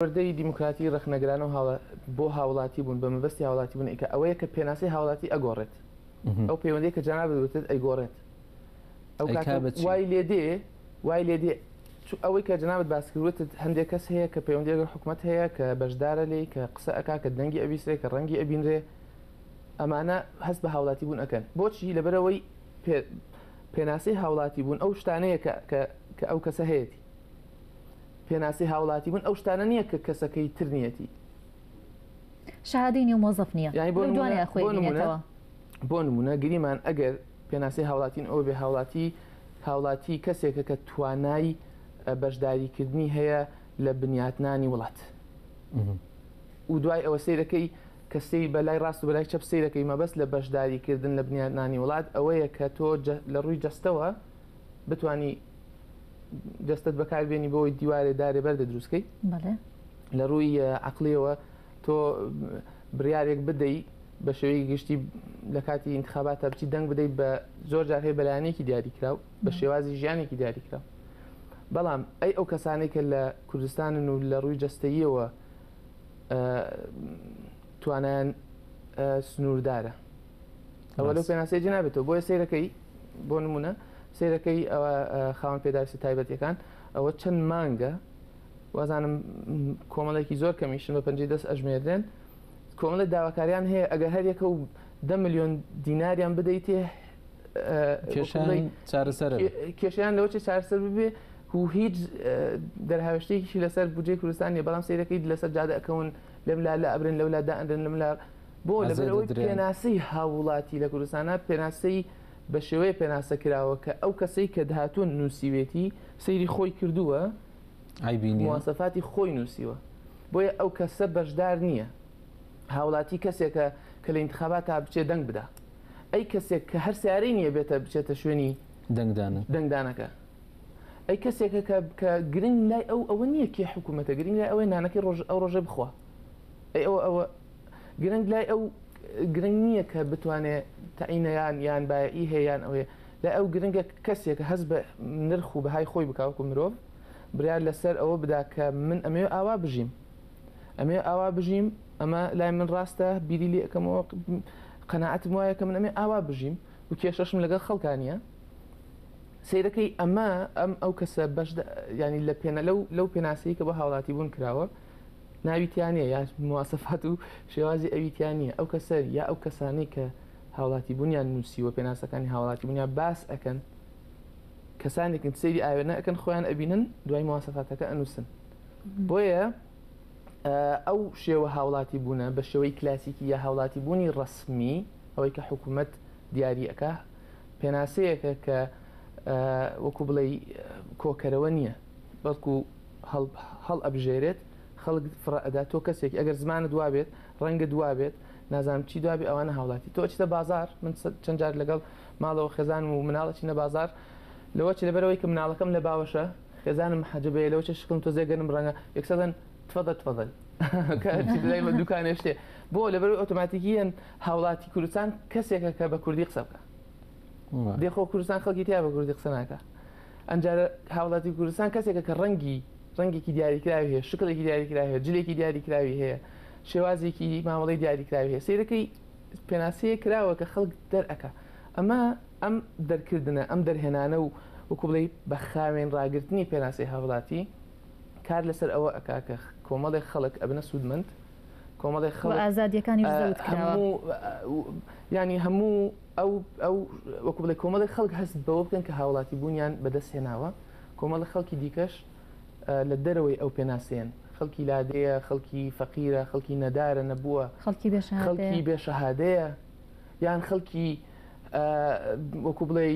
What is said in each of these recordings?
پەروەردەی دیموکراتی ڕەخنەگرانە و بۆ هاوڵاتی بوون بە مەبەستی هاوڵاتی بوون ئیکە ئەوەیە کە پێناسەی هاوڵاتی ئەگۆڕێت ئەو پەیوەندی کە جەنابت وتت ئەیگۆڕێت ئەو کاتە بە وای لێ دێ وای لێ دێ ئەوەی کە جنابەت باسکروتت هەندێک کەس هەیە کە پەیوەندی لەگەڵ حکوومەت هەیە کە بەشدارە لێ کە قسە ئەک کە دەنگی ئەویسرێ کە ڕەنگی ئەبینرێ ئەمانە هەست بە هاوڵاتی بوون ئەەکەن بۆچی لەبەرەوەی پێناسی هاوڵاتی بوون ئەو شتانەیە کە ئەو کەسە هەیەی پێناسەی هاوڵاتی بوون ئەو شتانە نییە کە کەسەکەی تر نیەتی شهادەی نێو مۆزەف نییە یعنی بۆ لەو دوانەیە نمونە خۆی بۆ نمونە بینێتەوە بۆ نمونە گریمان ئەگەر پێناسەی هاوڵاتین ئەو بێ هاوڵاتی هاوڵاتی کەسێکە کە توانای اه، بەشداریکردنی هەیە لە بنیاتنانی وڵات و دوای ئەوە سیرەکەی کە سری بەلای ڕاست و بەلای چەپ سیرەکەی مەبەست لە بەشداریکردن لە بنیاتنانی وڵات ئەوەیە کە تۆ جە- لە ڕووی جەستەوە بتانی دەستت بەکاربیێنی بۆی دیوارێ دارێ بەردە دروستکەی لە ڕووی عقلەوە تۆ بڕارێک بدەی بە شێوەی گشتی لە کاتی انتخابات تا بچی دەنگ بدەیت بە زۆر جار هەیە بەلایەنێکی دیاریکراو بە شێوازی ژیانێکی دیاریکراو بەڵام ئەی ئەو کەسانێک کە لە کوردستانن و لە ڕووی جەستەیەوە توانیان سنووردارە ئەوە لەو پێناسەی جنابێتەوە بۆیە سیرەکەی بۆ نمونە سیرەکەی ئەوە خاوەن پێداویستە تایبەتەکان ئەوە چەند مانگە وازانم کۆمەڵێکی زۆر کەمیشن بە پەنجی دەست ئەژمێردێن کۆمەڵە داواکاریان هەیە ئەگە هەر یەکە و ده میلیۆن دیناریان بدەیتێ کێشیان لەوەی چارسەر ببێ و هیچ دەرهاوشتێکی لەسەر بجێ کوردستانی بەڵام سیرەکەی لەسەر جادەکەون لەم لا لە ئەبرن لەولا دائەنرن لەم لا بۆ لەبەر ئەوەی پێناسەی هاووڵاتی لە کوردستانە پێناسەی بە شێوەیە پێناسە کراوە کە ئەو کەسەی کە دهاتوون نووسیوێتی سەیری خۆی کردووە موواسەفاتی خۆی نووسیوە بۆیە ئەو کەسە بەشدار نییە هاوڵاتی کەسێکە کە لە انتخابات تا بچێ دەنگ بدا ئەی کەسێک کە هەر سیارەی نییە بێتە بچێتە شوێنی دەنگدانە دەنگدانەکە ئەی کەسێکە کە بکە گرنگ لای ئەو ئەوە نییە کێ حکوومەتە گرنگ لای ئەوەی نانەکەی ڕۆژ ئەو ڕۆژێ بخوا ئەی ئەوە ئەوە گرنگ لای ئەو گرنگ نییە کە بتوانێت تەعینەیان یان بایە ئی هەیەیان ئەوێ لای ئەو گرنگە کەسێک هەز بە نرخ و بەهای خۆی بکوکو مرۆڤ برار لەسەر ئەوە بدا کە من ئەمێ ئاوا بژیم ئەمێ ئاوا بژیم ئەمە لای من ڕاستە بیری لێ ئەەکەمەوە قەنەعەتم وایە کە من ئەمێ ئاوا بژیم و کێشەشم لەگەڵ خەڵکانە سیرەکەی ئەمە ئەم ئەو کەسە بەش ینی لە پێێنە لەو لەو پێناسەی کە بە هاوڵاتی بوون کراوە ناوی تیا نیە یا مواسەفات و شێوازی ئەوی تیا نیە ئەو کەسە یا ئەو کەسانەی کە هاوڵاتی بوونیان نووسیوە پێناسەکانی هاوڵاتی بوونیان باس ئەکەن کەسانێکن سری ئاوێنە ئەەکەن خۆیان ئەبینن دوای مواسەفاتەکە ئەنووسن بۆیە ئەو شێوە هاوڵاتی بوونە بە شێوەی کلاسیکی یا هاوڵاتی بوونی ڕسمی ئەوەی کە حکوومەت دیارریەکە پێناسەیەکە کە وەکو بڵێ کۆکەرەوە نییە بەڵکو هەڵ ئەبژێرێت خەڵک فڕە ئەدا تۆ کەسێک ئەگەر زمانت وابێت ڕەنگت وابێت نازانم چی دوابێ ئەوانە هاوڵاتی تۆ ئەچیتە بازار من چەند جار لەگەڵ ماڵەوە خێزانم و مناڵ ئەچینە بازار لەوە چ لەبەرەوەی کە مناڵەکەم لە باوەشە خێزانم حەجبەیە لەوە چ شکڵم تۆزێ گەنم ڕەنگە یەکسەدەن تفەدە تفەدەن کە هەرچی لای من دوکانێ شتێ بۆ لەبەرەوەی ئۆتۆماتیکیەن هاوڵاتی کوردستان کەسێکە کە بە کوردی قسە بکە دێخۆ کوردستان خەڵکی تیا بە کوردی قسە ناکە ئەمجا هاوڵاتی کوردستان کەسێکە کە ڕەنگی ڕەنگێکی دیاریکراوی هەیە شکڵێکی دیاریکراوی هەیە جلێکی دیاریکراوی هەیە شێوازێکی مامەڵی دیاریکراوی هەیە سیرەکەی پێناسەیە کراوە کە خەڵک دەرەکە ئەمە ئەم دەرکردنە ئەم دەرهێنانە و وەکو بڵێ بە خاوێن ڕاگررتنی پێناسی هاوڵاتی کار لەسەر ئەوە ئەکاکە کۆمەڵێک خەڵک ئەبنە سوودمەند کۆمەڵێک خەڵک ئازادیەکانی ینی هەموو ئەو ئەو وەکو بڵێ کۆمەڵی خەڵک هەست بەوە بکەن کە هاوڵاتی بوونیان بەدەست هێناوە کۆمەڵی خەڵکی دیکەش لە دەرەوەی ئەو پێناسێن خەڵکی لادێیە خەڵکی فەقیرە خەڵکی نەدارە نەبووە خەڵکی بێ خەڵکی بێ شەهادەیە یان خەڵکی وەکو بڵێ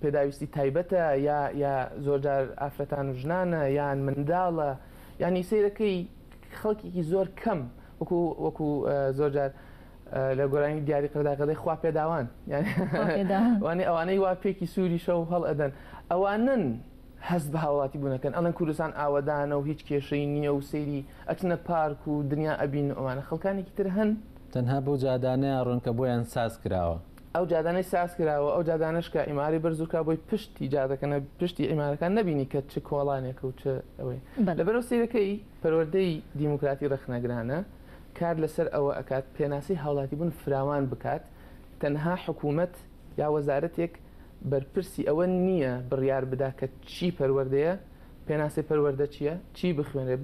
پێداویستی تایبەتە یا یا زۆرجار ئافرەتان و ژنانە یان منداڵە ینی سیرەکەی خەڵکیی زۆر کەم وەکو وەکو زۆر جار لە گۆرانی دیاری قەدا قەدەی خوا پێداوان وانێ ئەوانەی وا پێکی سووری شەو هەڵ ئەدەن ئەوانن هەست بە هاوڵاتی بوونەکەن ئەڵەن کوردستان ئاوەدانە و هیچ کێشەی نییە و سەیری ئەچنە پارک و دنیا ئەبین ئەوانە خەڵکانێکی تر هەن تەنها بەو جادانەیە ڕۆن کە بۆیان ساز کراوە ئەو جادانەی ساز کراوە ئەو جادانش کە ئیماری بەرزورکە بۆی پشتی جادەکەنە پشتی ئیمارەکان نبینی کە چ کۆڵانێک و چ ئەوەی لەبەرەوە سیرەکەی پەروەردەی دیموکراتی ڕەخنەگرانە کار لەسەر ئەوە ئەکات پێناسەی هاوڵاتیبوون فراوان بکات، تەنها حکومەت یا وەزارەتێک بەرپرسی ئەوە نییە بڕیار بدا کە چی پەروەردەیە، پێناسەی پەروەردە چییە، چی بخوێنرێت،